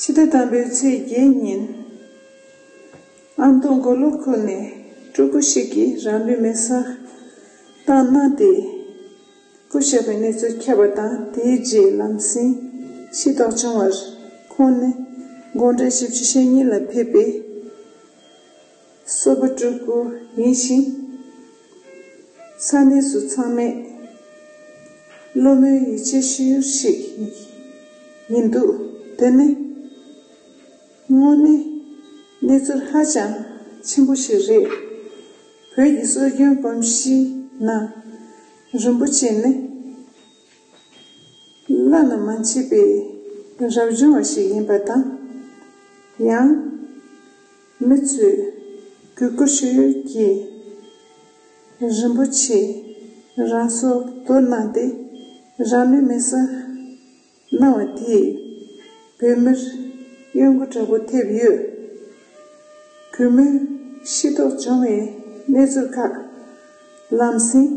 ཕྱི་ཟླ་དང་པོའི་ཚེས་བརྒྱད་ཉིན། ཨ་མདོ་མགོ་ལོག་ཁུལ་ནས་སྤྲུལ་སྐུ་ཞིག་གིས་རང་ལུས་མེར་བསྲེགས་བཏང་གནང་སྟེ། སྐུ་བཞག་པའི་གནས་ཚུལ་ཁྱབ་པ་དང་དེའི་རྗེས་ལམ་སེང་ཤི་རྟོགས་བྱུང་བར། ཁོང་ནི་དགོང་གྲངས་བཞི་བཅུ་ཞེ་གཉིས་ལ་ཕེབས་པའི། གསོལ་བ་སྤྲུལ་སྐུ་ཡིན་ཞིང། ས་གནས་སུ་ཚང་མས་ཀླུ་མོའི་ཡིད་ཆེས་ཤེས་ཡུལ་ཞིག་ཡིན་འདུག་དེ་ནི་དངོས་གནས་གནས་ཚུལ་ཧ་ཅང་ཆེན་པོ་ཞིག་རེད། བོད་ཀྱི་སྲོལ་རྒྱུན་གོམས་གཤིས་ནང་རིན་པོ་ཆེ་ནི་བླ་ན་མ་མཆིས་པའི་རབ་བྱུང་བ་ཞིག་ཡིན་པ་དང། ཡང། མི་ཚོས་གུས་བཀུར་ཞུ་ཡུལ་གྱི་རིན་པོ་ཆེ་རང་སོར་དོར་གནང་སྟེ་རང་ལུས་མེ་བསྲེགས་གནང་བ་དེས་བོད་མིར་གཡོ་འགུལ་དྲག་པོ་ཐེབས་ཡོད། གུས་མོའི་ཤི་དོགས་བྱུང་བའི་གནས་ཚུལ་ཁག་ལམ་སེང་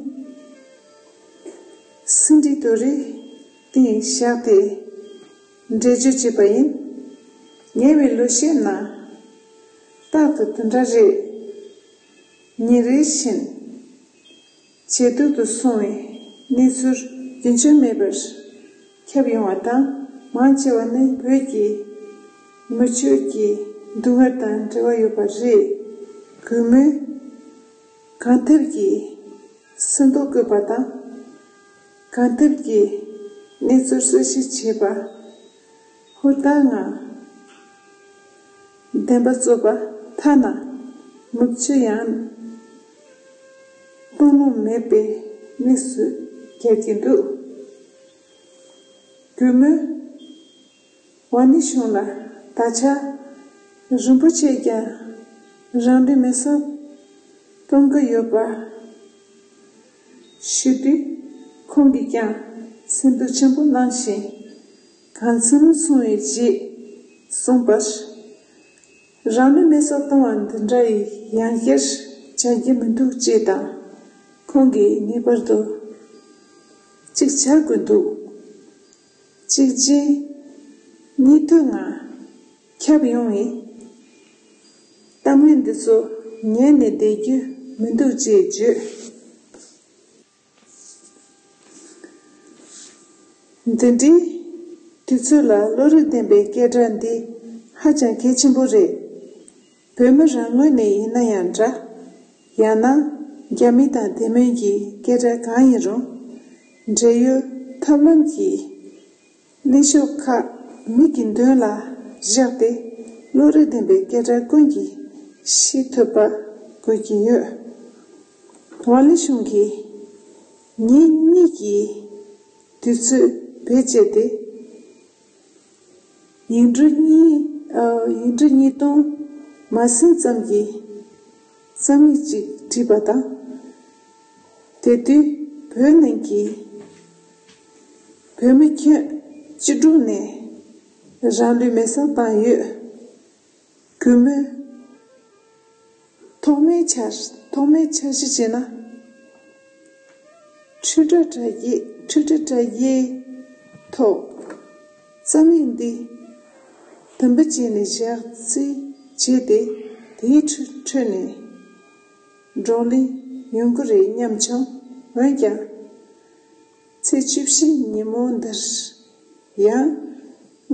ཟིན་བྲིས་དོ་རིགས་སྟེང་བཞག་སྟེ། འདྲེ་རྗེ་བྱེད་པ་ཡིན། ཉེ་བའི་ལོ་ཤས་ནང། རྟག་ཏུ་དེ་འདྲ་རེད། ཉིན་རེ་བཞིན། ཇེ་སྡུག་ཏུ་སོང་བའི་གནས་ཚུལ། རྒྱུན་ཆད་མེད་པར་ཁྱབ་ཡོང་བ་དང་མང་ཆེ་བ་ནི་བོད་ཀྱི་མི་ཆོས་ཀྱི་འདུ་འགོད་དང་འབྲེལ་བ་ཡོད་པ་རེད། གུས་མོས། གང་ཐེབས་ཀྱིས་སེམས་རྟོག་དགོས་པ་དང། གང་ཐུབ་ཀྱིས་གནས་ཚུལ་གསལ་བཤད་བྱེད་པ། ཧུར་ཐག་ངང་བདེན་པ་རྩོད་པ་ཐ་ན་མུག་ཆུ་ཡང་བཏུང་ལུགས་མེད་པའི་གནས་སུ་གྱར་གྱི་འདུག་རྒྱུ་མོད། བ་ནི་བྱུང་ལ། ད་ཆ། རིན་པོ་ཆེས་ཀྱང། རང་འདྲི་མི་སོགས། གཏོང་གི་ཡོད་པ། ཤེས་པས། ཁོང་གིས་ཀྱང། སེམས་སྡུག་ཆེན་པོ་གནང་ཞིང། གང་ཚུལ་སོང་བའི་རྗེས། གསུངས་པར། རང་འདྲི་མི་སོགས་གཏོང་བ་འདི་འདྲ་ཡི་ཡང་བཤེར་བྱ་རྒྱུ་མི་འདུག་ཅེས་དང། ཁོང་གིས་ངེས་པར་དུ། གཅིག་བྱ་དགོས་འདུག། གཅིག་རྗེས་གཉིས་མཐུད་ངང་ཁྱབ་ཡོང་བའི་གཏམ་གླེང་འདི་ཚོ་ཉན་ནས་བསྡད་རྒྱུ་མི་འདུག་ཅེས་བརྗོད། འདི་འདྲའི་དུས་ཚོད་ལ་བློ་རིག་ལྡན་པའི་སྐད་སྒྲ་འདི་ཧ་ཅང་གལ་ཆེན་པོ་རེད། བོད་མི་རང་ངོས་ནས་ཡིན་ན་ཡང་འདྲ། ཡང་ན། རྒྱ་མི་དང་དེ་མིན་གྱི་སྐད་སྒྲ་གང་ཡིན་རུང། འབྲེལ་ཡོད་ཐབས་ལམ་གྱིས། གླེང་ཕྱོགས་ཁག་མིག་གི་མདུན་ལ་བཞག་སྟེ། བློ་རིག་ལྡན་པའི་སྐད་སྒྲ་ཀུན་གྱིས་ཤེས་ཐུབ་པ་དགོས་ཀྱི་ཡོད། ཝང་ལི་ཞུང་གིས། ངེད་གཉིས་ཀྱིས་དུས་ཚོད་བེད་སྤྱད་དེ། ཡིག་འབྲུ་གཉིས་སྟོང་མ་ཟིན་ཙམ་གྱི་རྩོམ་ཡིག་ཅིག་བྲིས་པ་དང། དེ་དུས་བོད་གླིང་གི་བོད་མི་ཁྱོན་ཅི་དྲུག་ནས་རང་ལུས་མེ་བསྲེགས་བཏང་ཡོད། གུས་མོས། ཐོག་མའི་ཆ། ཐོག་མའི་ཆ་གཞི་བྱས་ན། ཁྲི་ཕྲག་གྲ་བརྒྱད་ཁྲི་ཁྲི་གྲ་བརྒྱད། ཐོག། རྩ་མེད་འདི། དམ་པ་བྱས་ནས་བཞག་རྩིས་བྱས་ཏེ་དེའི་ཁྲོད་ནས། བགྲོ་གླེང་ཡོང་གི་རེད་སྙམ་བྱུང། འོན་ཀྱང། ཚེས་བཅུ་བཞི་ཉིན་མོ་འདིར། ཡང།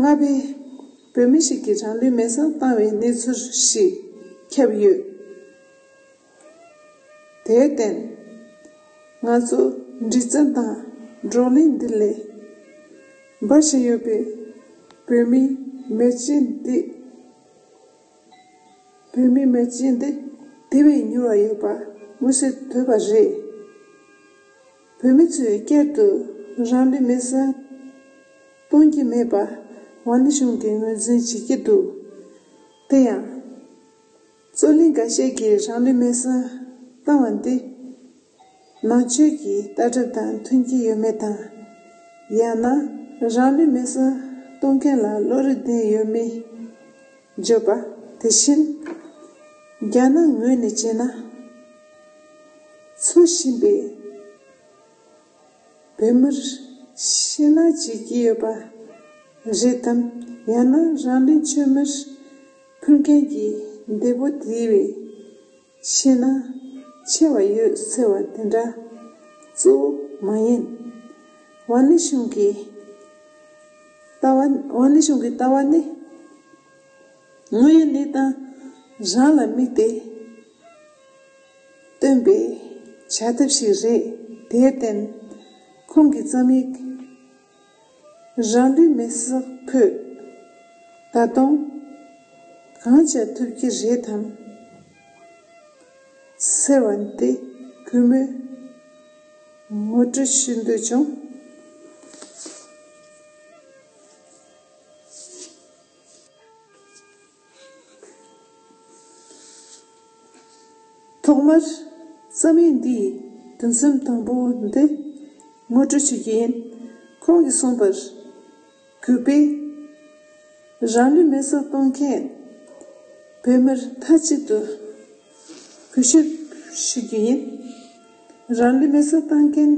རྔ་པའི། བོད་མི་ཞིག་གིས་རང་ལུས་མེ་བསང་བཏང་བའི་གནས་ཚུལ་ཞིག། ཁྱབ་ཡོད། དེར་བརྟེན། ང་ཚོ། འདྲི་བརྩད་དང། བགྲོ་གླེང་འདི་ལས། འབའ་ཞིག་ཡོད་པའི། བོད་མི། མེ་ལྕེ་འདི། བོད་མི་མེ་ལྕེ་འདི། དེ་བས་མྱུར་བ་ཡོད་པ། མངོན་གསལ་དོད་པ་རེད། བོད་མི་ཚོས་སྐད་དུ་རང་འདྲི་མི་གསུང། གཏོང་གི་མེད་པ། ཝཱ་ནི་གཞུང་གིས་ངོས་འཛིན་བྱེད་ཀྱི་འདུག་དེ་ཡང། རྩོད་གླེང་འགའ་ཤས་ཀྱིས་རང་འདྲི་མི་གསུང་བཏང་བ་འདི། ནང་ཆོས་ཀྱི་ལྟ་གྲུབ་དང་མཐུན་གྱི་ཡོད་མེད་དང། ཡང་ན་རང་འདྲི་མི་གསུང་གཏོང་མཁན་ལ་བློ་རིག་ལྡན་ཡོད་མེད། བརྗོད་པ། དེ་བཞིན། རྒྱ་ནག་ངོས་ནས་བྱས་ན། འཚོ་བཞིན་པའི་བོད་མིར་ཕྱི་ནང་བྱེད་ཀྱི་ཡོད་པ་རེད་དམ་ཡང་ན་རང་རེ་ཆོས་མིར་ཕུལ་མཁན་གྱི་འདས་པོ་དེ་བས། ཤེས་ན་ཆེ་བ་ཡོད་ཟེར་བ་དེ་འདྲ་གཙོ་བོ་མ་ཡིན། ཝཱ་ནི་ཤུང་གི་ལྟ་བ། ཝཱ་ནི་ཤུང་གི་ལྟ་བ་ནི་དངོས་ཡོད་གནས་སྟངས་རང་ལ་དམིགས་ཏེ་བཏོན་པའི་བྱ་ཐབས་ཤིག་རེད། དེར་བརྟེན་ཁོང་གི་རྩོམ་ཡིག། རང་འདྲའི་མི་ཟག་ཕུད། ད་དུང། གང་བྱ་ཐུབ་ཀྱི་རེད་དམ། ཟེར་བ་འདི་གུས་མོས་ངོ་སྤྲོད་ཞུས་འདོད་བྱུང། ཐོག་མར་རྩོམ་ཡིག་འདིའི་དུམ་སེམས་དང་པོ་འདི་ངོ་སྤྲོད་བྱེད་ཀྱི་ཡིན། ཁོང་གིས་གསུངས་པར། གུས་པས། རང་ལུས་མེ་སྲེག་གཏོང་མཁན་བོད་མིར་མཐའ་གཅིག་ཏུ་གུས་ཞབས་ཞུ་རྒྱུ་ཡིན། རང་ལུས་མེ་སྲེག་བཏང་མཁན་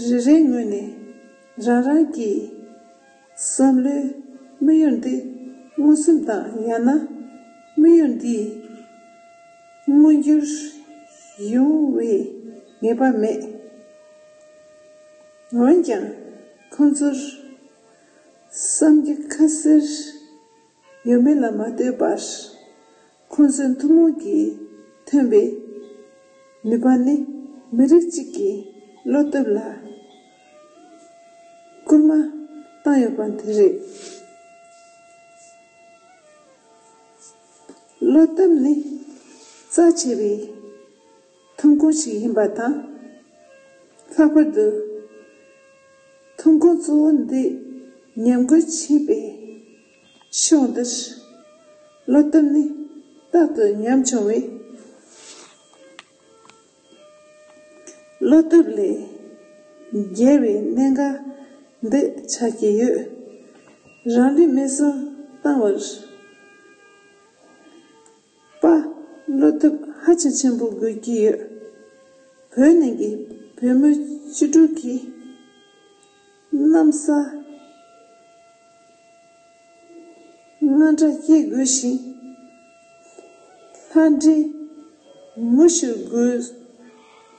རེ་རེའི་ངོས་ནས་རང་རང་གི། བསམ་བློའི་དམིགས་ཡུལ་འདི་མངོན་སུམ་དང་ཡང་ན་དམིགས་ཡུལ་འདི་མངོན་འགྱུར་ཡོང་བའི་ངེས་པ་མེད། འོན་ཀྱང་ཁོང་ཚོར་བསམ་རྒྱུ་ཁ་གསལ་ཡོད་མེད་ལ་མ་ལྟོས་པར། ཁོ་ཚོའི་ཐུན་མོང་གིས་ཐོན་པའི་ནུས་པ་ནི་མི་རིགས་གཅིག་གི་བློ་སྟོབས་ལ་སྐུལ་མ་བཏང་ཡོད་པ་དེ་རེད། བློ་སྟོབས་ནི་རྩ་ཆེ་བའི་ཐོན་ཁུངས་ཤིག་ཡིན་པ་དང། ལྷག་པར་དུ་ཐོན་ཁུངས་གཙོ་བོ་འདི་ཉམས་རྒུད་བྱས་པའི་ཕྱོགས་འདིར་བློ་བརྟན་ནི་རྟག་ཏུ་ཉམ་ཆུང་བས། བློ་སྟོབས་ལས་རྒྱལ་བའི་གནད་འགག་འདི་ཆགས་ཀྱི་ཡོད། རང་འགྲེལ་མེད་སྲོལ་བཏང་བར། པ། བློ་སྟོབས་ཧ་ཅང་ཆེན་པོ་དགོས་ཀྱི་ཡོད། བོད་ནང་གི་བོད་མི་བཅུ་དྲུག་གིས། གནམ་ས་སྔ་འདྲ་སྐྱེ་དགོས་ཤིང། ལྷ་འདྲེ་ངུ་ཤོར་དགོས།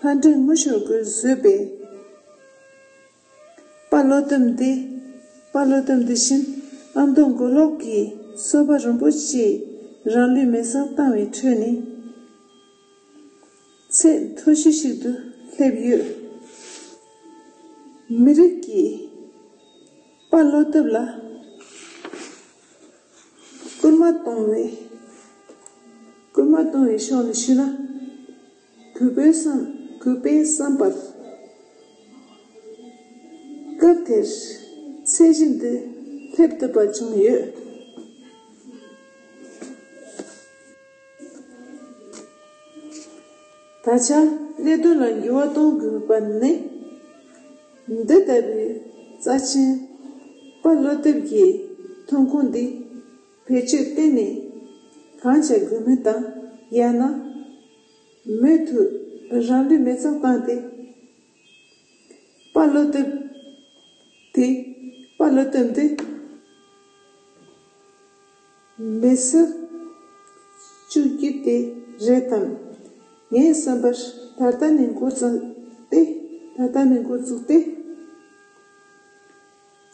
ལྷ་འདྲེ་ངུ་ཤོར་དགོས་བཟོས་པའི་དཔའ་བློ་སྡོམ་འདི། དཔའ་བློ་སྡོམ་འདི་བཞིན་ཨ་མདོ་མགོ་ལོག་གི་བསོད་པ་རིན་པོ་ཆེས་རང་ལུས་མེ་བསང་བཏང་བའི་ཁྲོད་ནས། ཚད་མཐོ་གཞི་ཞིག་ཏུ་སླེབས་ཡོད། མི་རིགས་ཀྱི་དཔའ་བློ་སྟོབས་ལ་སྐུལ་མ་གཏོང་བའི་སྐུལ་མ་གཏོང་བའི་ཕྱོགས་ནས་ཞུས་ན། གུས་པའི་བསམ་གུས་པའི་བསམ་པར། སྐབས་དེར་ཚད་གཞི་འདི་སླེབས་ཐུབ་པ་བྱུང་ཡོད། ད་ཆ་གནད་དོན་ལ་འགྱུར་བ་གཏོང་དགོས་པ་ནི། འདི་ལྟ་བུའི་རྩ་ཆེན་པ་བློ་དེབ་ཀྱི་ཐོན་ཁུངས་འདི་བེད་སྤྱོད་གཏན་ནས་གང་བྱ་དགོས་མིན་དང་ཡང་ན་མོས་མཐུ་རང་འདོད་མེད་ཙམ་བཏང་སྟེ། པ་བློ་སྟོབས། དེ་པ་བློ་སྟོབས་འདི། མེད་སྲིད། བཅུག་རྒྱུ་དེ་རེད་དམ། ངས་བསམ་པར་ད་ལྟ་ནས་འགོ་བཙུགས་ཏེ་ད་ལྟ་ནས་འགོ་བཙུགས་ཏེ།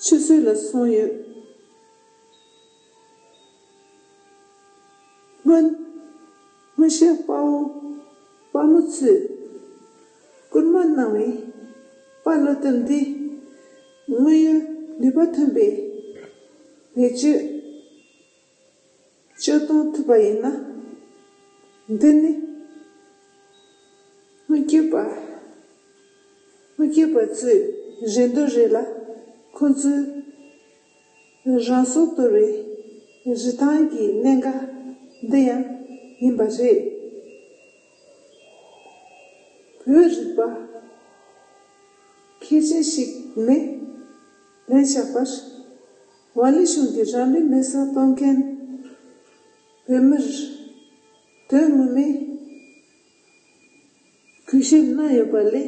ཆུ་ཚོད་ལ་སོང་ཡོད། སྔོན། སྔོན་གཤེགས་དཔའ་བོ་དཔའ་མོ་ཚུལ། བསྐུར་མ་གནང་བའི་དཔའ་བློ་དོན་འདི། དངོས་ཡོད་ནུས་པ་ཐོན་པའི་བེད་སྤྱོད། སྤྱོད་གཏོང་ཐུབ་པ་ཡིན་ན། འདི་ནི། སྔོན་སྐྱེས་པ། སྔོན་སྐྱེས་པ་ཚོའི་རེ་འདོད་རེད་ལ་ཁོང་ཚོའི། རང་སོར་དོར་བའི་རི་ཐང་གི་གནད་འགག་འདི་ཡང་ཡིན་པ་རེད། བོད་རིག་པ་མཁས་ཅན་ཞིག་ནས་ལན་བཞག་པར། ཝཱ་ལི་གཞུང་གིས་རང་མི་མེད་སར་གཏོང་མཁན་བོད་མིར་དོན་ངོ་མའི་གུས་ཞབས་གནང་ཡོད་པ་ལས།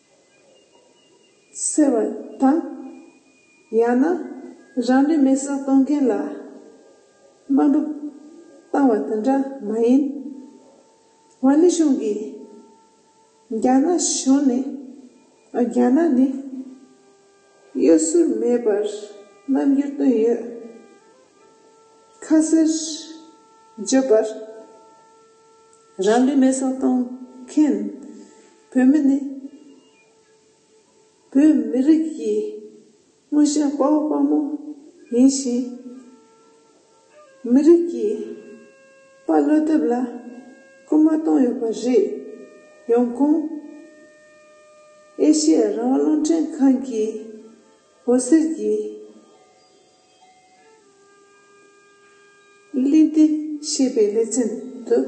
ཟེར་བ་དང། ཡང་ན་རང་འདྲའི་མེ་སྲེག་གཏོང་མཁན་ལ་དམའ་འབུད་བཏང་བ་དེ་འདྲ་མ་ཡིན། ཝཱ་ལི་ཞུང་གིས་རྒྱ་ནག་གཞུང་ནི་རྒྱ་ནག་ནི་གཡོ་ཟོལ་མེད་པར་རྣམ་འགྱུར་སྟོན་ཡོད། ཁ་གསལ་བརྗོད་པར། རང་ལུས་མེ་སྲོག་གཏོང་མཁན་བོད་མི་ནི། བོད་མི་རིགས་ཀྱི་མངོན་ཤེས་དཔའ་བོ་དཔའ་མོ་ཡིན་ཞིང། མི་རིགས་ཀྱི་དཔའ་བློ་དེབ་ལ་སྐུལ་མ་གཏོང་ཡོད་པ་རེད། ཡོང་ཁུངས། ཨེ་ཤི་ཡ་རང་དབང་རླུང་འཕྲིན་ཁང་གིས་འོད་ཟེར་གྱི། གླིང་འདི་ཤེས་པའི་གླེ་ཚན་དུ།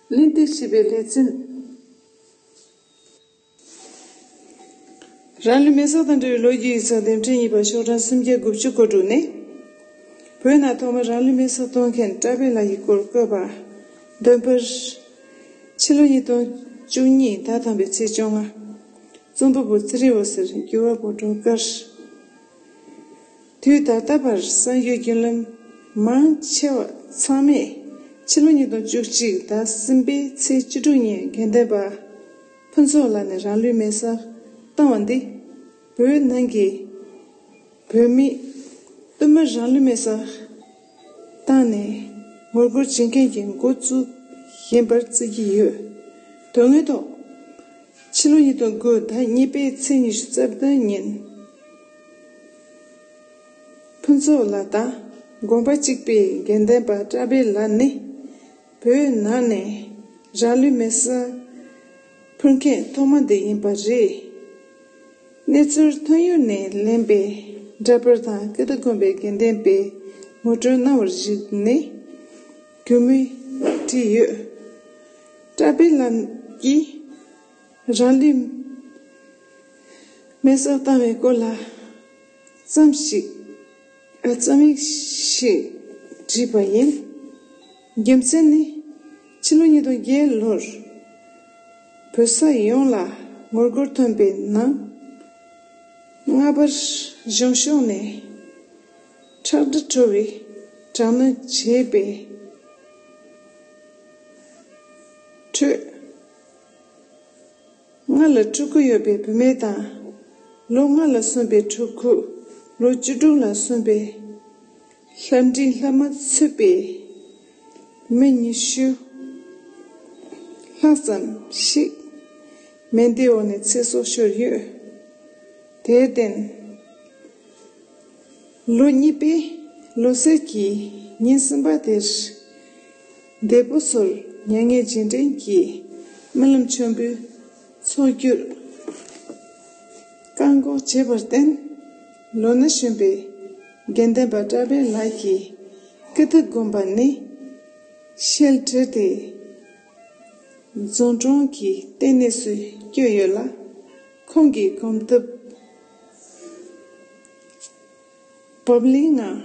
གླིང་འདི་ཤེས་པའི་གླེ་ཚན། རང་ལུས་མེ་སོགས་དང་འབྲེལ་བའི་ལོ་རྒྱུས་ཡིག་ཚགས་འདེམས་ཁྲལ་གཉིས་པ་ཤོག་གྲངས་སུམ་བརྒྱ་དགུ་བཅུ་བཀོད་འདུག་ནས། བོད་ནང་ཐོག་མར་རང་ལུས་མེ་སོགས་གཏོང་མཁན་བཀྲ་བྷེ་ལགས་ཀྱི་སྐོར་བཀོད་པ། བདུན་པར། ཕྱི་ལོ་ཉིས་སྟོང་བཅུ་གཉིས་ཟླ་ཐམ་པའི་ཚེས་བཅོ་ལྔ། རྩོམ་པ་པོ་ཙི་རི་བ་ཟེར་འགྱུར་བ་པོ་སྒྲོལ་དཀར། དུས་ད་ལྟ་བར་གསར་འགྱུར་རྒྱུན་ལམ་མང་ཆེ་བ་ཚང་མས་ཕྱི་ལོ་ཉིས་སྟོང་བཅུ་གཅིག་ཟླ་གསུམ་པའི་ཚེས་བཅུ་དྲུག་ཉིན་དགེ་འདུན་པ་ཕུན་ཚོགས་ལགས་ནས་རང་ལུས་མེ་བསྲགས་བཏང་བ་འདི་བོད་ནང་གི་བོད་མི་དབུ་མ་རང་ལུས་མེ་བསྲགས་བཏང་ནས་ངོ་རྒོལ་བྱེད་མཁན་གྱི་འགོ་བཙུགས་ཡིན་པར་བརྩི་གི་ཡོད། དོན་དངོས་ཐོག་ཕྱི་ལོ་ཉིས་སྟོང་དགུ་ཟླ་གཉིས་པའི་ཚེས་ཉི་ཤུ་རྩ་བདུན་ཉིན་ཕུན་ཚོགས་ལགས་དང་དགོན་པ་གཅིག་པའི་དགེ་འདུན་པ་བཀྲ་འཕེལ་ལགས་ནི་བོད་ནང་ནས་རང་ལུས་མེར་བསྲེགས་ཕུལ་མཁན་ཐོག་མ་འདི་ཡིན་པ་རེད། གནས་ཚུལ་ཐོན་ཡུལ་ནས་ལེན་པའི་འདྲ་པར་དང་སྐད་བརྡ་དགོན་པའི་དགེ་ལྡན་པས་ངོ་སྤྲོད་གནང་བར་གཞིགས་ནས་རྒྱུས་མེད་བྲིས་ཡོད། བཀྲ་བྷེ་ལམ་གྱིས་རང་ལུས་མེར་སྲེག་བཏང་བའི་སྐོར་ལ་ཙམ་ཞིག། པའི་རྩོམ་ཡིག་ཞིག་བྲིས་པ་ཡིན། རྒྱུ་མཚན་ནི། ཕྱི་ལོ་ཉིས་སྟོང་བརྒྱད་ལོར་བོད་ས་ཡོངས་ལ་ངོ་རྒོལ་ཐོན་པའི་ནང། རྔ་པ་གཞུང་ཕྱོགས་ནས་ཁྲག་དྲི་བྲོ་བའི་དྲག་གནོན་བྱས་པའི་ཁྲོད། ལྔ་ལ་ཕྲུ་གུ་ཡོད་པའི་བུད་མེད་དང། ལོ་ལྔ་ལ་སོན་པའི་ཕྲུ་གུ། ལོ་བཅུ་དྲུག་ལ་སོན་པའི། ལྷ་འབྲིང་ལྷ་མ་ཚུད་པའི། མི་ཉི་ཤུ་ལྷག་ཙམ་ཞིག། མེ་འདི་འོག་ནས་ཚེ་སྲོག་ཤོར་ཡོད། དེར་བརྟེན། ལོ་གཉིས་པའི་ལོ་སར་གྱི་ཉིན་གསུམ་པ་དེར། འདས་པོ་སོར་མྱ་ངན་སྦྱིན་དྲན་གྱིས། རྨི་ལམ་མཆོད་འབུལ་ཚོགས་བསྒྱུར། བཀག་འགོག་བྱས་པར་བརྟེན། ལོ་ན་གཞོན་པའི་དགེ་ལྡན་པ་བཀྲ་བྷེ་ལགས་ཀྱིས་སྐུ་ཐུགས་བསྒོམས་པ་ནི། ཤེལ་གྲི་དེ། རྫོང་གྲོང་གི་ལྟེ་གནས་སུ་བསྐྱོད་ཡོད་ལ། ཁོང་གིས་གོམ་སྟབས་བབ་བརླིང་ངང་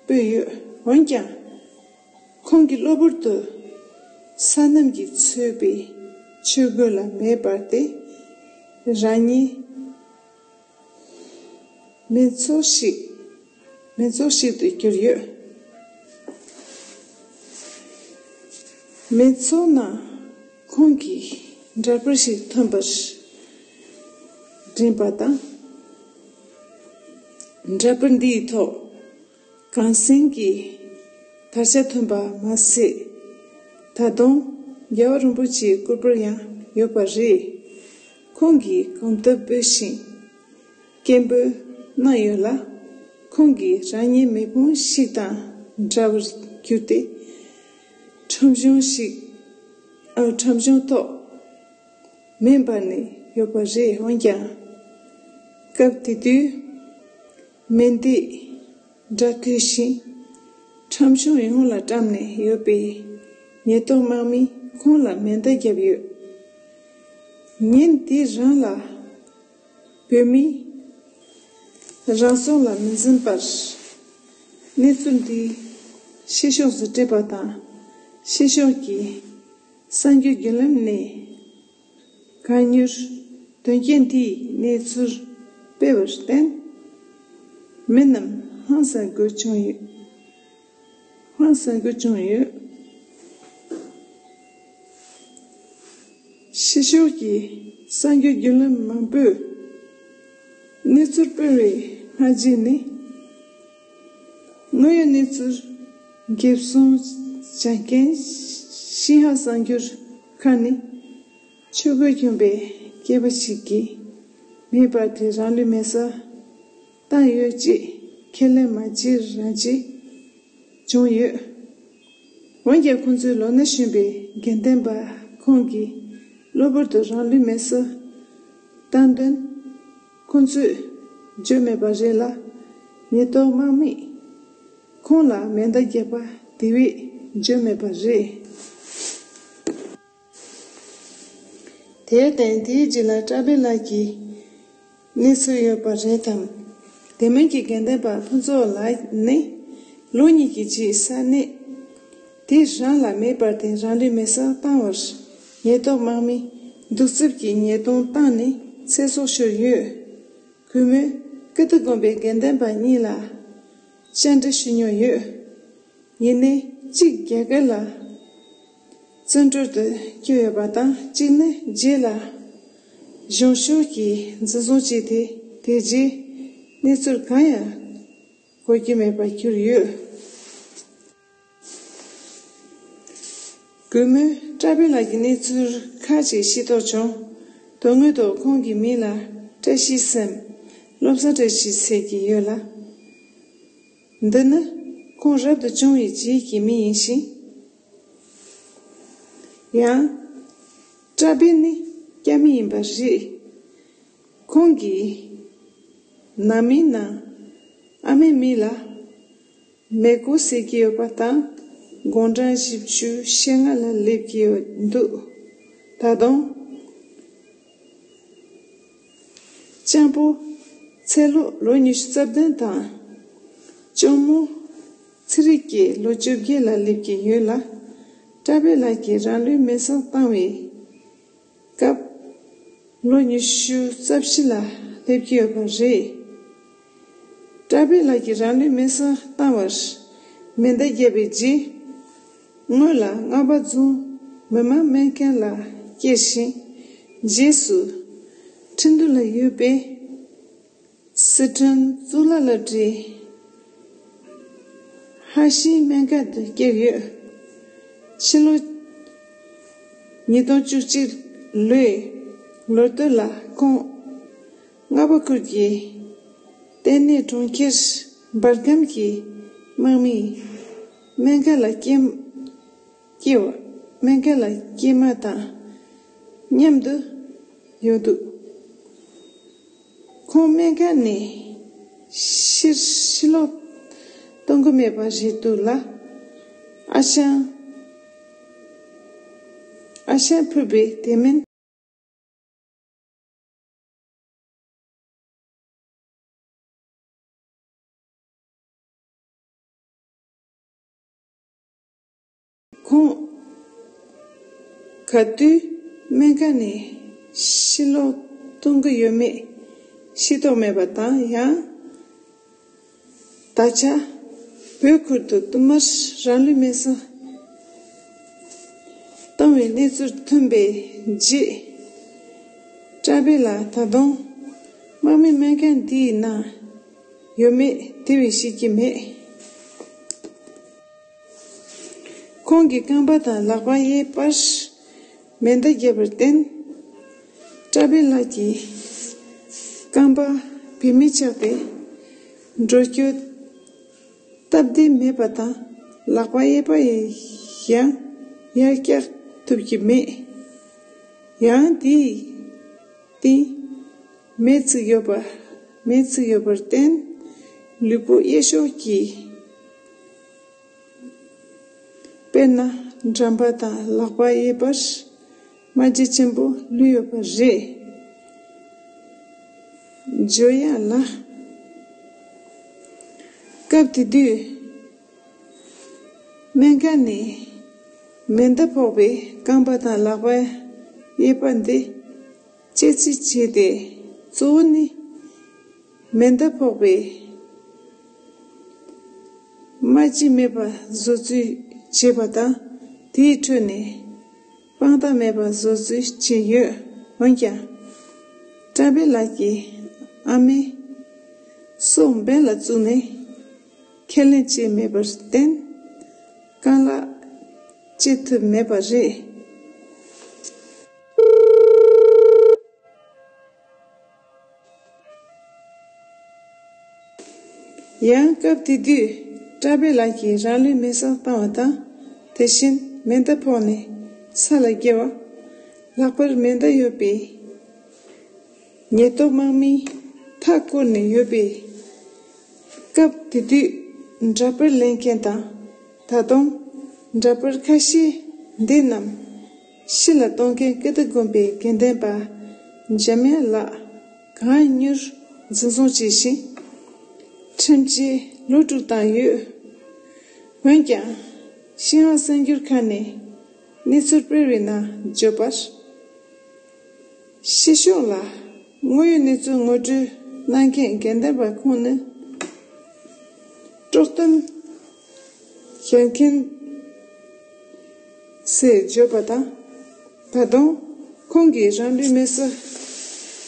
སྤོས་ཡོད། འོན་ཀྱང། ཁོང་གིས་གློ་བུར་དུ་ས་རྣམས་ཀྱིས་འཚོས་པའི་ཆུ་རྒོད་ལ་མེ་སྦར་ཏེ། རང་ཉིད་མི་ཚོགས་ཤིག་མི་ཚོགས་ཤིག་ཏུ་གྱུར་ཡོད། མི་ཚོགས་ནང་ཁོང་གིས་འདྲ་པར་ཞིག་ཐོན་པར་བསྒྲིམས་པ་དང། འདྲ་པར་འདིའི་ཐོག། གངས་སེང་གི་དར་ཆ་ཐོན་པ་མ་ཟད། ད་དུང་རྒྱལ་བ་རིན་པོ་ཆེའི་སྐུ་པར་ཡང་ཡོད་པ་རེད། ཁོང་གིས་གོམ་སྟབས་སྤོས་ཤིང་སྐད་འབོད་གནང་ཡོད་ལ། ཁོང་གིས་རང་ཉིད་མེ་ཕུང་ཞིག་དང་འདྲ་བར་གྱུར་ཏེ། ཁྲོམ་གཞུང་ཞིག་ཁྲོམ་གཞུང་ཐོག་མེ་འབར་ནས་ཡོད་པ་རེད་འོན་ཀྱང། སྐབས་དེ་དུས། སྨན་སྡེས་སྦྲ་སྐུལ་ཞིང། ཁྲོམ་གཞུང་ཡོངས་ལ་བཀྲམ་ནས་ཡོད་པས། ཉེས་རྟོག་དམག་མིས་ཁོང་ལ་མེ་མདའ་བརྒྱབ་ཡོད། ཉིན་དེ་རིང་ལ་བོད་མིས་རང་སྲོག་ལ་མི་འཛེམས་པར། གནས་ཚུལ་འདི་ཕྱི་ཕྱོགས་སུ་སྤྲད་པ་དང། ཕྱི་ཕྱོགས་ཀྱིས་གསར་འགྱུར་བརྒྱུད་ལམ་ནས་བཀའ་འགྱུར་དོན་རྐྱེན་དེའི་གནས་ཚུལ་སྤེལ་བར་བརྟེན། མི་རྣམས་ཧང་སངས་དགོས་བྱུང་ཡོད། ཧང་སངས་དགོས་བྱུང་ཡོད། ཕྱི་ཕྱོགས་ཀྱི་གསར་འགྱུར་བརྒྱུད་ལམ་མང་པོས་གནས་ཚུལ་སྤེལ་བའི་སྔ་རྗེས་ནས། དངོས་ཡོད་གནས་ཚུལ་འགེབས་སྲུང་བྱ་མཁན་ཤིན་ཧྭ་གསར་འགྱུར། ཁ་ནི། ཆོས་གོས་གྱོན་པའི་སྐྱེས་པ་ཞིག་གིས་མེད་པར་དེ་རང་ལུས་མེ་སར་བཏང་ཡོད་ཅེས་ཁས་ལེན་མ་བྱེད་རང་བྱེད་བྱུང་ཡོད། འོན་ཀྱང་ཁོང་ཚོའི་ལོ་ན་གཞོན་པའི་དགེ་ལྡན་པ་ཁོང་གིས་གློ་བུར་དུ་རང་ལུས་མེ་སར་བཏང་དོན། ཁོང་ཚོས་བརྗོད་མེད་པ་རེད་ལ། ཉེས་རྟོག་དམག་མིས། ཁོང་ལ་མེ་མདའ་རྒྱག་པ་དེ་བས་བརྗོད་མེད་པ་རེད། དེར་བརྟེན་དེའི་རྗེས་ལ་བཀྲ་བྷེ་ལགས་ཀྱིས་གནས་ཚུལ་ཡོད་པ་རེད་དམ། དེ་མིན་གྱི་དགེ་ལྡན་པ་ཕུན་ཚོགས་ལགས་ནི་ལོ་གཉིས་ཀྱི་རྗེས་ས་གནས་དེ་རང་ལ་མེད་པར་བརྟེན་རང་འགྲེལ་མེད་སར་བཏང་བར་ཉེས་རྟོག་དམག་མིས་གདུག་རྩུབ་ཀྱིས་ཉེས་རྡུང་བཏང་ནས་ཚེ་སྲོག་ཤོར་ཡོད། གུས་མོས་ཀིརྟི་དགོན་པའི་དགེ་ལྡན་པ་གཉིས་ལ། བཅར་འདྲི་ཞུས་མྱོང་ཡོད། ཡིན་ནའི་གཅིག་རྒྱ་སྐད་ལ་བརྩོན་འགྲུས་དུ་སྐྱོད་ཡོད་པ་དང་གཅིག་ནི་རྗེས་ལ་གཞུང་ཞུགས་ཀྱིས་འཛིན་བཟུང་བྱས་ཏེ་དེ་རྗེས་གནས་ཚུལ་གང་ཡང་གོ་རྒྱུ་མེད་པར་གྱུར་ཡོད། གུས་མོས་བཀྲ་བྷེ་ལགས་ཀྱི་གནས་ཚུལ་ཁག་ཅིག་ཤེས་རྟོགས་བྱུང། དོན་དངོས་ཐོག་ཁོང་གི་མིང་ལ་བཀྲ་ཤིས་སམ། སློབ་གསར་བཀྲ་ཤིས་ཟེར་གྱི་ཡོད་ལ། འདི་ནི་ཁོང་རབ་ཏུ་བྱུང་བའི་རྗེས་ཀྱི་མི་ཡིན་ཞིང། ཡང། བཀྲ་བྷེ་ནི་སྐྱ་མི་ཡིན་པ་རེད། ཁོང་གིས་ནང་མིའི་ནང་ཨ་མའི་མིང་ལ། མེ་སྒོ་བསྲེག་གི་ཡོད་པ་དང་དགོང་གྲངས་བཞི་བཅུ་ཞེ་ལྔ་ལ་སླེབས་ཀྱི་ཡོད་འདུག་ད་དུང། སྤྱང་པོ། ཚེ་ལོ་ལོ་ཉི་ཤུ་རྩ་བདུན་དང། གཅུང་མོ། ཚེ་རིག་བརྒྱད་ལོ་བཅོ་བརྒྱད་ལ་སླེབས་ཀྱི་ཡོད་ལ། བཀྲ་བྷེ་ལགས་ཀྱིས་རང་ལུས་མེར་སྲེག་བཏང་བའི། སྐབས། ལོ་ཉི་ཤུ་རྩ་བཞི་ལ་སླེབས་ཀྱི་ཡོད་པ་རེད། བཀྲ་བྷེ་ལགས་ཀྱིས་རང་ལུས་མེ་སྲ་བཏང་བར་མེ་མདའ་བརྒྱབ་པའི་རྗེས། སྔོན་ལ་རྔ་པ་རྫོང་མི་མང་སྨན་སྐྱོན་ལ་སྐྱེལ་ཞིང། རྗེས་སུ། ཁྲི་འདུ་ལ་ཡོད་པའི། སི་ཁྲོན་གཙུག་ལག་ལོ་ཀྲི། ཧྭ་ཤིའི་སྨན་སྐལ་དུ་སྐྱེས་ཡོད། ཕྱི་ལོ་ཉིས་སྟོང་བཅུ་གཅིག་ལོའི་ལོ་སྟོད་ལ་ཁོང་རྔ་པ་ཁུལ་གྱི་ལྟེ་གནས་གྲོང་ཁྱེར་འབར་ཁམས་ཀྱི་དམག་མིའི་སྨན་སྐལ་ལ་སྐྱེས། སྐྱེ་བ་སྨན་མཁན་ལ་སྐྱེས་མ་དང་མཉམ་དུ་ཡོད་འདུག་ཁོང་སྨན་མཁན་ནས་ཕྱིར་ཕྱི་ལོག་གཏོང་གི་མེད་པ་རེད་འདུག་ལ། ཨ་ཞང་ཨ་ཞང་ཕུད་པའི་དེ་མིན། ཁོང་ག་དུས་སྨན་ཁང་ནས་ཕྱིར་ལོག་གཏོང་གི་ཡོད་མེད་ཤེས་རྟོགས་མེད་པ་དང་ཡང་ད་ཆ་བོད་ཁུལ་དུ་བསྟུད་མར་རང་ལུས་མེར་སྲེག་བཏང་བའི་གནས་ཚུལ་ཐོན་པའི་རྗེས། བཀྲ་བྷེ་ལ་ད་དུང་དམག་མི་སྨན་ཁང་འདིའི་ནང་ཡོད་མེད་དེ་བས་ཤེས་ཀྱི་མེད། ཁོང་གི་རྐང་པ་དང་ལག་པ་གཡས་པར་མེ་མདའ་བརྒྱབ་པར་བརྟེན། བཀྲ་བྷེ་ལགས་ཀྱི་རྐང་པ་བེད་མེད་ཆགས་ཏེ་འགྲོ་སྐྱོད་སྟབས་བདེ་མེད་པ་དང་ལག་པ་གཡས་པ་ཡང་ཡར་བཀྱག་ཐུབ་ཀྱི་མེད། ཡང་དེའི་སྟེང་མེས་བཙུགས་ཡོད་པར་བརྟེན། ལུས་པོ་གཡས་ཕྱོགས་ཀྱི། དཔེར་ན་འགྲམ་པ་དང་ལག་པ་གཡས་པར་རྨ་རྒྱལ་ཆེན་པོ་ལུས་ཡོད་པ་རེད། བརྗོད་ཡ་ལ། སྐབས་དེ་དུས། སྨན་ཁང་ནས་མེ་མདའ་ཕོག་པའི་རྐང་པ་དང་ལག་པ་གཡས་པ་འདི། སྤྱད་རྩིས་བྱས་ཏེ། གཙོ་བོ་ནི། མེ་མདའ་ཕོག་པའི་རྨ་བྱའི་མེད་པ་བཟོ་རྩིས་བྱས་པ་དང་དེའི་ཁྲོད་ནས་དཔང་རྟགས་མེད་པ་བཟོ་རྩིས་བྱས་ཡོད། འོན་ཀྱང། བཀྲ་དཔལ་ལགས་ཀྱི་ཨ་མའི་སྲོག་འབེན་ལ་བཙུགས་ནས་ཁས་ལེན་བྱས་མེད་པར་བརྟེན། རྐང་ལག་སྤྱད་ཐུབ་མེད་པ་རེད། ཡང་སྐབས་དེ་དུས་བཀྲ་བྷེ་ལགས་ཀྱིས་རང་ལུས་མེ་བསྲེགས་བཏང་བ་དང་དེ་བཞིན་མེ་མདའ་ཕོག་ནས་ས་ལ་བསྐྱལ་བ། ལྷག་པར་མེ་མདའ་ཡོད་པའི་ཉེས་རྟོག་དམག་མིས་མཐའ་བསྐོར་ནས་ཡོད་པས། སྐབས་དེ་དུས་འདྲ་པར་ལེན་མཁན་དང་ད་དུང་འདྲ་པར་ཁ་ཤས་འདི་རྣམས། ཕྱི་ལ་གཏོང་མཁན་སྐད་བརྡ་དགོན་པའི་དགེ་ལྡན་པ་འཇམ་དབྱངས་ལགས་གང་མྱུར་འཛིན་བཟུང་བྱས་ཤིང། ཁྲིམས་བཅད་ལོ་དྲུག་བཏང་ཡོད། འོན་ཀྱང། ཤིན་ཧྭ་གསར་འགྱུར་ཁང་ནས་གནས་ཚུལ་སྤེལ་བའི་ནང་བརྗོད་པར། ཕྱི་ཕྱོགས་ལ་དངོས་ཡོད་གནས་ཚུལ་ངོ་སྤྲོད་གནང་མཁན་དགེ་ལྡན་པ་ཁོང་ནི། དཀྲོག་གཏམ། བཤད་མཁན། ཞེས་བརྗོད་པ་དང། ད་དུང་ཁོང་གིས་རང་རེའི་མི་གསོད་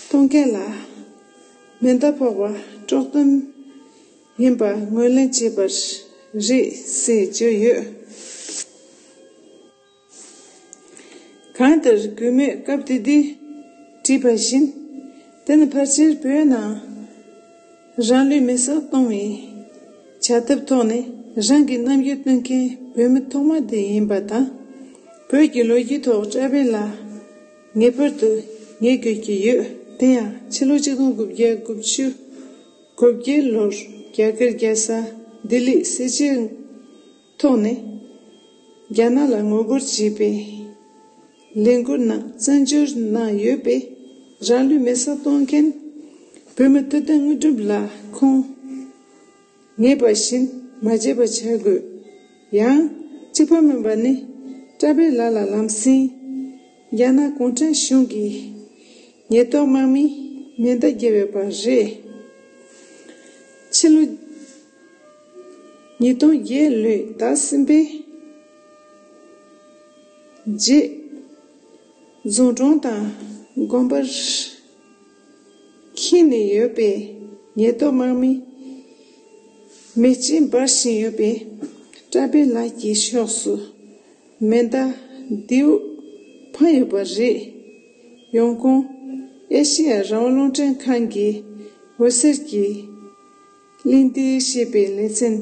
གཏོང་མཁན་ལ་མེ་མདའ་ཕོག་པ་དཀྲོག་དོན་ཡིན་པ་ངོས་ལེན་བྱས་པ་རེད་ཞེས་བརྗོད་ཡོད། གང་ལྟར་གུས་མོས་སྐབས་དེ་དུས་བྲིས་པ་བཞིན། དེ་ནི་ཕར་ཆེར་བོད་ནང་རང་ལུས་མེ་སྲེག་གཏོང་བའི་བྱ་ཐབས་ཐོག་ནས་རང་གི་རྣམ་འགྱུར་སྟོན་མཁན་བོད་མི་ཐོག་མ་དེ་ཡིན་པ་དང། བོད་ཀྱི་ལོ་རྒྱུས་ཐོག་བཀྲ་བྷེ་ལ་ངེས་པར་དུ་ངེས་དགོས་ཀྱི་ཡོད་དེ་ཡང་ཕྱི་ལོ་གཅིག་སྟོང་དགུ་བརྒྱ་དགུ་བཅུ་དགུ་བརྒྱད་ལོར་རྒྱ་གར་རྒྱལ་ས་ལྡི་ལིས་སྲིད་སྤྱིར་ཐོག་ནས་རྒྱ་ནག་ལ་ངོ་རྒོལ་བྱེད་པའི་ལས་འགུལ་རྣམས་བཙན་བསྒྱུར་གནང་ཡོད་པས་རང་ལུས་མེ་སྲེག་གཏོང་མཁན་བོད་མི་ཐུབ་བསྟན་དངོས་གྲུབ་ལ་ཁོང་ངེས་པ་བཞིན་མ་བརྗེད་པ་བྱ་དགོས། ཡང་གཅིག་བཀའ་མོལ་པ་ནི་བཀྲ་བྷེ་ལགས་ལ་ལམ་སེང་རྒྱ་ནག་གུང་ཁྲན་གཞུང་གི་ཉེས་རྟོག་དམག་མིས་མེ་མདའ་བརྒྱབ་ཡོད་པ་རེད། ཕྱི་ལོ། ཉིས་སྟོང་བརྒྱད་ལོའི་ཟླ་གསུམ་པའི་རྗེས། རྫོང་གྲོང་དང་དགོན་པར་ཁེངས་ནས་ཡོད་པའི་ཉེས་རྟོག་དམག་མི་མེ་ལྕེ་འབར་བཞིན་ཡོད་པས། བཀྲ་བྷེ་ལགས་ཀྱི་ཕྱོགས་སུ་མེ་མདའ་མདེའུ་འཕངས་ཡོད་པ་རེད། ཡོང་ཁུང་ཨེ་ཤེ་ཡ་རང་དབང་རླུང་འཕྲིན་ཁང་གིས་འོད་ཟེར་གྱི། གླིང་འདིའི་གཤེགས་པའི་ལེ་ཚན།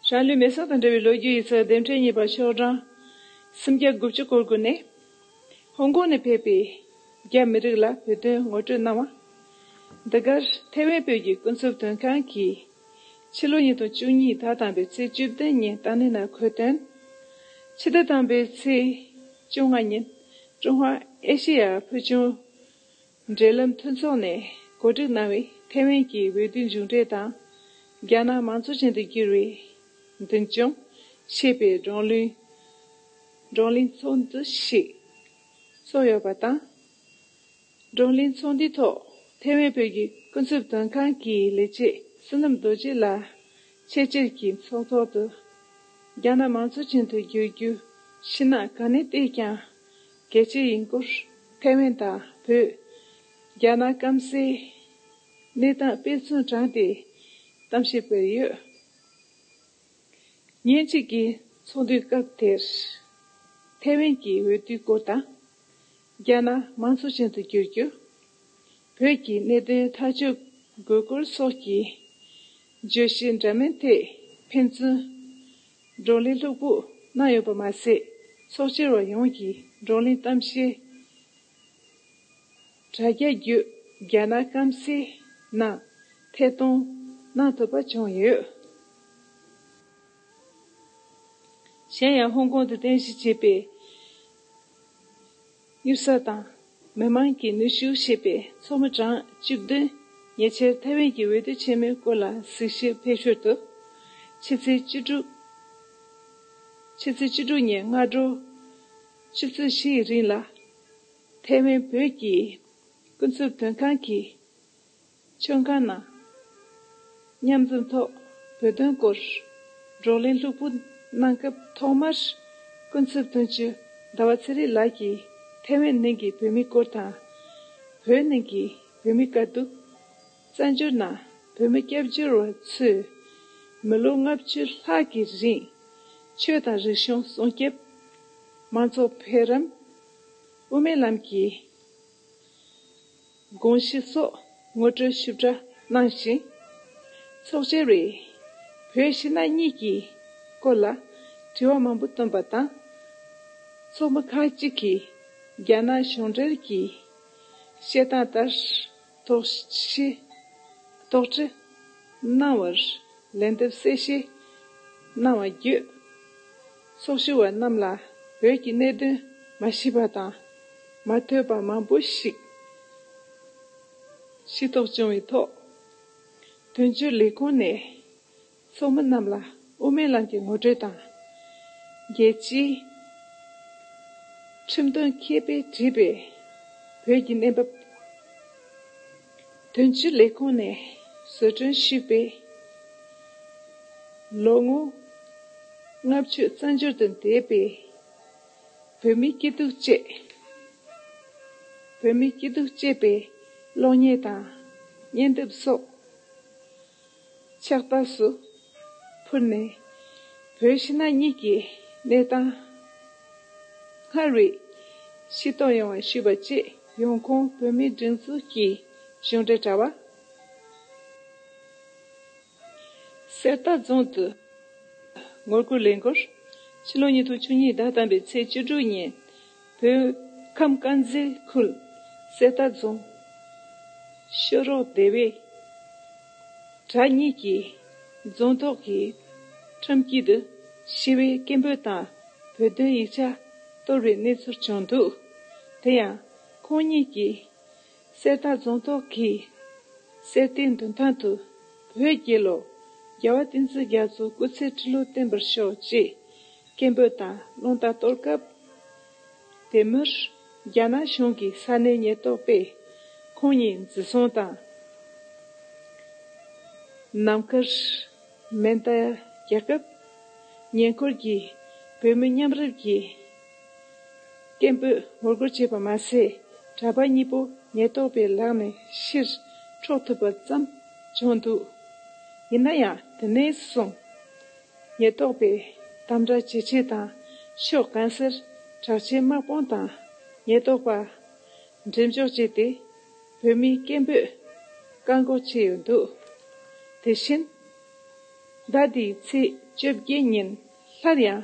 རང་ལུས་མེ་སོགས་དང་འབྲེལ་བའི་ལོ་རྒྱུས་ཡིག་ཚགས་ལྡེབ་འཕྲེང་གཉིས་པ་ཤོག་གྲངས་སུམ་བརྒྱ་དགུ་བཅུ་སྐོར་བསྐུར་ནས། ཧོང་ཀོང་ནས་ཕེབས་པའི་རྒྱ་མི་རིགས་ལ་བོད་དོན་ངོ་སྤྲོད་གནང་བ། འདི་གར་ཐེ་ཝན་བོད་ཀྱི་ཀུན་རྫོབ་དོན་ཁང་གིས་ཕྱི་ལོ་ཉིས་སྟོང་བཅུ་གཉིས་ཟླ་དང་པའི་ཚེས་བཅུ་བདུན་ཉིན་ཏཱ་ནི་ན་ཁོའི་དོན། ཕྱི་ཟླ་དང་པའི་ཚེས་བཅོ་ལྔ་ཉིན་ཀྲུང་ཧྭ་ཨེ་ཤེ་ཡ་ཕུལ་བྱུང་འབྲེལ་ལམ་མཐུན་ཚོགས་ནས་གོ་སྒྲིག་གནང་བའི་ཐེ་ཝན་གྱི་འོས་བསྡུའི་མཇུག་འབྲས་དང། རྒྱ་ནག་མང་གཙོ་ཅན་དུ་འགྱུར་བའི་མདུན་བསྐྱོད་བྱེད་པའི་བགྲོ་གླེང་ཚོགས་འདུ་ཞིག་ཚོགས་ཡོད་པ་དང། བགྲོ་གླེང་ཚོགས་འདུའི་ཐོག་ཐེ་ཝན་བོད་ཀྱི་ཀུན་རྫོབ་དོན་ཁང་གི་ལས་བྱེད་བསོད་ནམས་རྡོ་རྗེ་ལགས་ཆེད་ཕྱིར་གྱི་ཚོགས་ཐོག་ཏུ་རྒྱ་ནག་མང་གཙོ་ཅན་དུ་འགྱུར་རྒྱུ་ཕྱི་ནང་གང་ནས་བལྟས་ཀྱང་རྒྱལ་སྤྱི་ཡིན་སྐོར་ཐེ་ཝན་དང་བོད། རྒྱ་ནག་སྐམ་སའི་གནས་སྟངས་དཔེ་མཚོན་དྲངས་ཏེ་གཏམ་བཤད་སྤེལ་ཡོད། ཉིན་གཅིག་གི་ཚོགས་འདུའི་སྐབས་དེར། ཐེ་ཝན་གྱི་འོས་བསྡུའི་སྐོར་དང། རྒྱ་ནག་མང་གཙོ་ཅན་དུ་འགྱུར་རྒྱུ། བོད་ཀྱི་གནད་དོན་ཐག་གཅོད་དགོས་སྐོར་སོགས་ཀྱི་བརྗོད་གཞི་འདྲ་མིན་ཐད་ཕན་ཚུན་བགྲོ་གླེང་སློབ་ཁུག་གནང་ཡོད་པ་མ་ཟད། ཚོགས་བཅར་བ་ཡོངས་ཀྱིས་བགྲོ་གླེང་གཏམ་བཤད། དྲ་རྒྱ་བརྒྱུད་རྒྱ་ནག་སྐམ་སའི་ནང་ཐད་གཏོང་གནང་ཐུབ་པ་བྱུང་ཡོད། གཞན་ཡང་ཧོང་ཀོང་དུ་རྟེན་གཞི་བྱས་པའི། དབྱིབས་གསར་དང། མི་དམངས་ཀྱིས་ནུས་ཤུགས་བཞེས་པའི་མཚོ་མོ་གྲངས་བཅུ་བདུན། ཉེ་ཆར་ཐའེ་ཝན་གྱི་འོས་བསྡུ་ཆེན་མོའི་སྐོར་ལ་གཟིགས་ཞིབ་ཕེབས་ཞོར་དུ། ཕྱི་ཚེས་བཅུ་དྲུག། ཕྱི་ཚེས་བཅུ་དྲུག་ཉིན་སྔ་དྲོ་ཆུ་ཚོད་བཞི་ཡི་རིང་ལ། ཐའེ་ཝན་བོད་ཀྱི་ཀུན་སྤྱོད་དོན་ཁང་གིས། མཆོད་མཁན་ནང། མཉམ་འཛོམས་ཐོག་བོད་དོན་སྐོར་བགྲོ་གླེང་ལྷུག་པོ་གནང་སྐབས་ཐོག་མར་སྐུ་ཚབ་དོན་གཅོད་ཟླ་བ་ཚེ་རིང་ལགས་ཀྱིས་ཐེ་ཝན་ནང་གི་བོད་མི་སྐོར་དང། བོད་ནང་གི་བོད་མི་དཀའ་སྡུག། བཙན་བྱོལ་ནང་བོད་མི་སྐྱབས་བཅོལ་བ་ཚོས་མི་ལོ་ལྔ་བཅུ་ལྷག་གི་རིང་ཆོས་དང་རིག་གཞུང་སྲུང་སྐྱབས། མང་ཚོགས་འཕེལ་རིམ། དབུ་མའི་ལམ་གྱི། དགོངས་གཞི་སོགས་ངོ་སྤྲོད་ཞིབ་ཕྲ་གནང་ཞིང། ཚོགས་ཆེན་རེས་བོད་ཕྱི་ནང་གཉིས་ཀྱི་སྐོར་ལ་དྲི་བ་མང་པོ་བཏོན་པ་དང། ཚོགས་མི་ཁག་ཅིག་གིས་རྒྱ་ནག་གཞུང་འབྲེལ་གྱི་བཤད་སྟངས་ལྟར་དོགས་གཞི་དོགས་འདྲི་གནང་བར་ལན་འདེབས་གསལ་བཤད་གནང་བ་བརྒྱུད། ཚོགས་ཞུགས་བ་རྣམས་ལ་བོད་ཀྱི་གནད་དོན་མ་ཤེས་པ་དང་མ་ཐོས་པ་མང་པོ་ཞིག་ཤེས་རྟོགས་བྱུང་བའི་ཐོག་དོན་གཅོད་ལས་ཁུངས་ནས་ཚོགས་མི་རྣམས་ལ་དབུ་མའི་ལམ་གྱི་ངོ་སྤྲོད་དང། རྒྱལ་སྤྱིའི་ཁྲིམས་དོན་མཁས་པས་བྲིས་པའི་བོད་ཀྱི་གནས་བབ། དོན་གཅོད་ལས་ཁུངས་ནས་བཟོ་སྐྲུན་ཞུས་པའི་ལོ་ངོ་ལྔ་བཅུ་རྩ་འཇོར་དུ་འདས་པའི་བོད་མིའི་སྐྱིད་སྡུག་བཅས་བོད་མིའི་སྐྱིད་སྡུག་ཅེས་པའི་གློག་བརྙན་དང་བརྙན་དེབ་སོགས། ཕྱག་རྟགས་སུ་ཕུལ་ནས་བོད་ཕྱི་ནང་གཉིས་ཀྱི་གནས་སྟངས་སྔར་བས་ཕྱིར་གཏོང་ཡོང་བ་ཞུས་པ་བཅས་ཡོང་ཁུངས་བོད་མིའི་སྒྲིག་འཛུགས་ཀྱི་གཞུང་འབྲེལ་དྲ་བ། གསེར་རྟ་རྫོང་དུ་ངོ་རྒོལ་ལས་འགུལ་ཕྱི་ལོ་ཉིས་སྟོང་བཅུ་གཉིས་ཟླ་དང་པོའི་ཚེས་བཅུ་དྲུག་ཉིན། བོད་ཁམས་དཀར་མཛེས་ཁུལ་གསེར་རྟ་རྫོང། ཤོ་རོག་སྡེ་བའི་གྲྭ་གཉིས་ཀྱི་རྫོང་ཐོག་གི་ཁྲོམ་དཀྱིལ་དུ་ཞི་བའི་སྐད་འབོད་དང་བོད་དོན་ཡིག་ཆ་གཏོར་བའི་གནས་ཚུལ་བྱུང་འདུག་དེ་ཡང་ཁོང་གཉིས་ཀྱིས་གསེར་རྟ་རྫོང་ཐོག་གིས་གསེར་རྟའི་འདུན་ཐང་དུ་བོད་རྒྱལ་ལོ་རྒྱལ་བ་བསྟན་འཛིན་རྒྱ་མཚོའི་སྐུ་ཚེའི་ཁྲི་ལོ་བརྟན་པར་ཤོག་ཅེས་སྐད་འབོད་དང་རླུང་རྟ་གཏོར་སྐབས། དེ་མུར་རྒྱ་ནག་གཞུང་གི་ས་གནས་ཉེན་རྟོག་པས་ཁོང་ཉིད་འཛིན་བཟུང་དང། ནམ་མཁར་མེ་མདའ་རྒྱག་སྐབས། ཉེ་འཁོར་གྱི་བོད་མི་མཉམ་རུབ་ཀྱིས། སྐད་འབོད་ངོ་རྒོལ་བྱས་པ་མ་ཟད་གྲྭ་པ་གཉིས་པོ་ཉེན་རྟོག་པའི་ལག་ནས་ཕྱིར་འཕྲོག་ཐུབ་པ་ཙམ་བྱུང་འདུག་ཡིན་ན་ཡང་དེ་ནས་བཟུང་ཉེན་རྟོག་པས་དམ་དྲག་ཇེ་ཆེ་དང་ཕྱོགས་གང་སར་དྲག་ཆས་དམག་དཔུང་དང་ཉེན་རྟོག་པ་འགྲེམས་འཇོག་བྱས་ཏེ་བོད་མིའི་སྐད་འབོད་བཀག་འགོག་བྱས་ཡོད་འདུག་དེ་བཞིན་ཟླ་འདིའི་ཚེས་བཅོ་བརྒྱད་ཉིན་སླར་ཡང་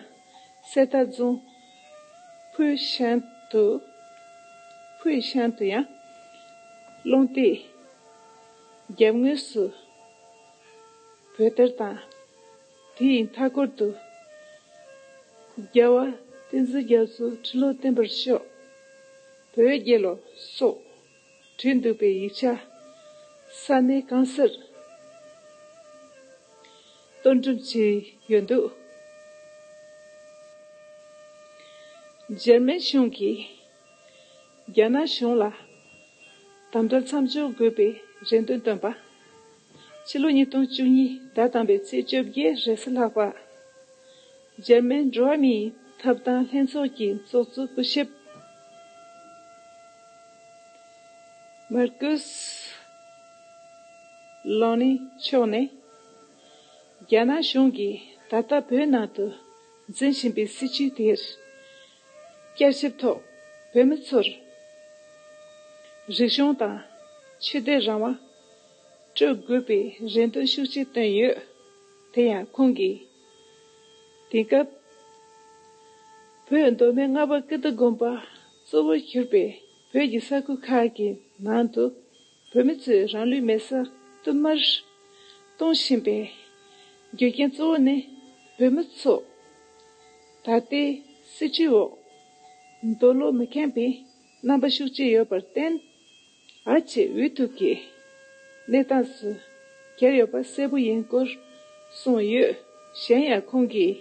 གསེར་རྟ་རྫོང་ཕུའུ་ཤན་དུ། Puyi Shan། དུ་ཡང་སློང་སྟེགས་རྒྱབ་ངོས་སུ་བོད་ཐེར་དང། དེ་ཡི་མཐའ་སྐོར་དུ་རྒྱལ་བ་བསྟན་འཛིན་རྒྱ་མཚོའི་ཁྲི་ལོ་བརྟན་པར་ཤོག་བོད་རྒྱལ་ལོ་སོགས་བྲིས་འདུག་པའི་ཡིག་ཆ། ས་གནས་རྐང་སར་གཏོར་འགྲེམས་བྱས་ཡོད་འདུག། འཇར་མན་གཞུང་གིས་རྒྱ་ནག་གཞུང་ལ་དམ་དྲག་མཚམས་འཇོག་དགོས་པའི་རེ་འདུན་བཏོན་པ། ཕྱི་ལོ་ཉིས་སྟོང་བཅུ་གཉིས་ཟླ་དང་པའི་ཚེས་བཅོ་བརྒྱད་རེས་གཟི་ལྷག་པར། འཇར་མན་འགྲོ་བ་མིའི་ཐབ་ཐང་ལྷན་ཚོགས་ཀྱི་ཚོགས་གཙོ་སྐུ་ཞབས། མར་ཀུ་སི། ལེ་ནིན་མཆོག་ནི། རྒྱ་ནག་གཞུང་གིས་ད་ལྟ་བོད་ནང་དུ་འཛིན་བཞིན་པའི་སྲིད་བྱུས་དེར་བསྐྱར་ཞིབ་ཐོག་བོད་མི་ཚོར་རིག་གཞུང་དང་ཆོས་དད་རང་དབང་སྤྲོད་དགོས་པའི་རེ་འདུན་ཤུགས་ཆེ་བཏོན་ཡོད། དེ་ཡང་ཁོང་གིས། དེ་སྐབས་བོད་མདོ་སྨད་རྔ་པ་ཀིརྟི་དགོན་པ་གཙོ་བོར་གྱུར་པའི་བོད་ཀྱི་ས་ཁུལ་ཁག་གི་ནང་དུ་བོད་མི་ཚོས་རང་ལུས་མེ་སར་བསྟུད་མར་གཏོང་བཞིན་པའི་རྒྱུ་རྐྱེན་གཙོ་བོ་ནི་བོད་མི་ཚོ་ད་ལྟའི་སྲིད་ཁྲིའི་འོག་འདོད་བློ་མི་ཁེངས་པའི་རྣམ་པ་ཤུགས་ཆེ་ཡོད་པར་བརྟེན། ཨ་ཅེ་འུ་ཐུག་གི་གནས་སྟངས་སུ་གྱར་ཡོད་པ་གསལ་པོ་ཡིན་སྐོར་གསུངས་ཡོད། གཞན་ཡང་ཁོང་གིས་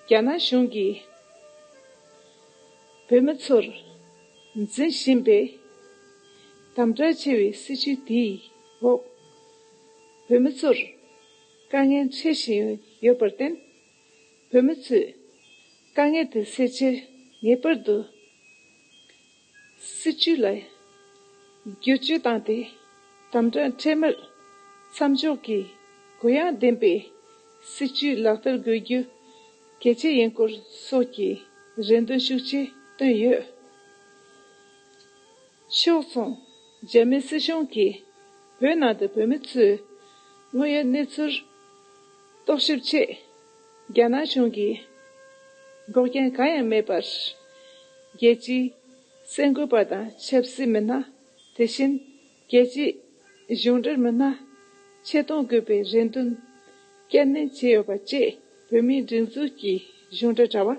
རྒྱ་ནག་གཞུང་གིས་བོད་མི་ཚོར་འཛིན་བཞིན་པའི་དམ་བསྒྲགས་ཆེ་བའི་སྲིད་བྱུས་དེའི་འོག་བོད་མི་ཚོར་དཀའ་ངལ་འཕྲད་བཞིན་ཡོད་པར་བརྟེན། བོད་མི་ཚོས་དཀའ་ངལ་དེ་སེལ་ཕྱིར་ངེས་པར་དུ་སྲིད་བྱུས་ལ་བསྒྱུར་བཅོས་བཏང་སྟེ་དམ་བསྒྲགས་འཕྲལ་མར་མཚམས་འཇོག་གིས་གུ་ཡངས་ལྡན་པའི་སྲིད་བྱུས་ལག་བསྟར་དགོས་རྒྱུ་གལ་ཆེ་ཡིན་སྐོར་སོགས་ཀྱི་རེ་འདུན་ཤུགས་ཆེ་བཏོན་ཡོད། ཕྱོགས་མཚུངས་རྒྱ་མི་སྲིད་གཞུང་གིས་བོད་ནང་དུ་བོད་མི་ཚོའི་དངོས་ཡོད་གནས་ཚུལ། རྟོག་ཞིབ་ཆེད་རྒྱ་ནག་གཞུང་གིས་འགོག་རྐྱེན་གང་ཡང་མེད་པར་རྒྱལ་སྤྱིའི་གསལ་འགོད་པ་དང་ཆབ་སྲིད་མི་སྣ་དེ་བཞིན་རྒྱལ་སྤྱིའི་གཞུང་འབྲེལ་མི་སྣ་ཆེད་གཏོང་དགོས་པའི་རེ་འདུན་བསྐྱར་ནན་བྱས་ཡོད་པ་བཅས་བོད་མིའི་སྒྲིག་འཛུགས་ཀྱི་གཞུང་འབྲེལ་དྲ་བ།